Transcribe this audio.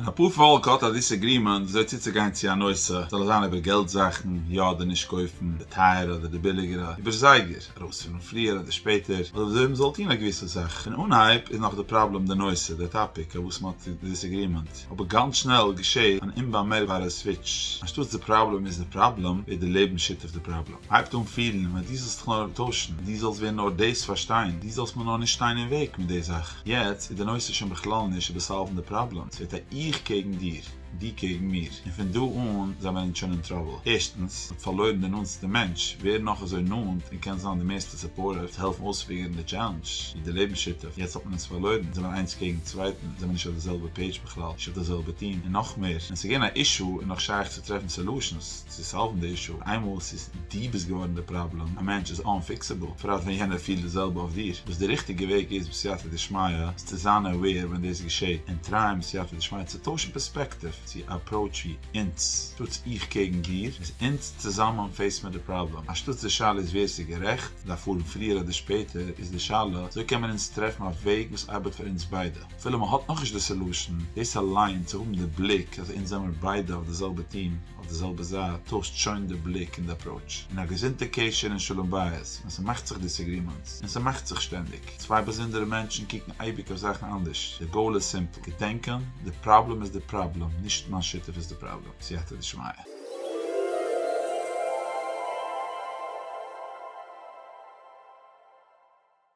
אפאר פאלק האט א דיסעגרימענט וויאזוי צוצוגיין צו א נושא, זאל עס זיין איבער געלט זאכן, יא אדער נישט קויפן, די טייערע אדער די ביליגערע, איבער זייגער, ארויספארן פריער אדער שפעטער, אדער וויאזוי מ'זאל טון א געוויסע זאך. פון אנהייב איז נאך די פראבלעם די נושא, די טאפיק, אויף וואס מ'האט די דיסעגרימענט. אבער גאנץ שנעל געשעהט אן אומבאמערקבארע סוויטש. אנשטאטס די פראבלעם איז די פראבלעם, ווערט די לעבן שותף די פראבלעם. הייבט אן פירן, ווען דו זאלסט דיך נאר אנטוישן, דו זאלסט ווען נאר דאס פארשטיין, דו זאלסט מיר נאר נישט שטיין אין וועג מיט די זאך. יעצט איז די נושא שוין בכלל נישט איבער סאלוון די פראבלעם, ס'ווערט א איך קעגן דיר, דו קעגן מיר, און פון דא אן זענען אונז שוין אין טראבל. ערשטנס, מ'האט פארלוירן די נאנטסטע מענטש, ווער נאך אזוי נאנט און קען זיין די מערסטע סופארטיוו צו העלפן אויספיגערן די טשעלענדש, ווי די לעבנס שותף, יעצט האט מען עס פארלוירן, אונז זעמער איינס קעגן צווייטן, זעמער נישט אויף די זעלבע פעידזש בכלל, נישט אויף די זעלבע טיעם, און נאך מער, ווען ס'איז געווען א אישו איז נאך שייך צו טרעפן סעלושענס, צו סאלוון די אישו, איינמאל עס איז דו ביסט געווארן די פראבלעם, א מענטש איז אנפיקסעבל, בפרט ווען יענער פילט די זעלבע אויף דיר, וואס די ריכטיגע וועג איז בסייעתא דשמיא איז צו זיין אוועיר ווען דאס געשעט, און טרייען בסייעתא דשמיא צו טוישן פערספעקטיוו צו א אפראוטש ווי אונז טוטס איך קעגן דיר איז אונז צוזאמען פעיס מיר די פראבלעם, אנשטאטס די שאלה איז ווער ס'איז גערעכט, דארף פארן פריער אדער שפעטער, איז די שאלה אזוי קען מען אונז טרעפן א וועג וואס ארבעט פאר אונז ביידע, אפילו מ'האט נאכנישט די סעלושען, דאס אליין צו האבן די בליק אז אונז זעמיר ביידע אויף די זעלבע טיעם, אויף די זעלבע זייט טוישט שוין די בליק און די אפראוטש און א געזונטע קשר און שלום בית ווען ס'מאכט זיך דיסעגרימענטס און ס'מאכט זיך שטענדיג צוויי באזונדערע מענטשן קוקן אייביג אויף זאכן אנדערש די גאול איז סימפל געדענקען די פראבלעם איז די פראבלעם נישט מיין שותף איז די פראבלעם סייעתא דשמיא.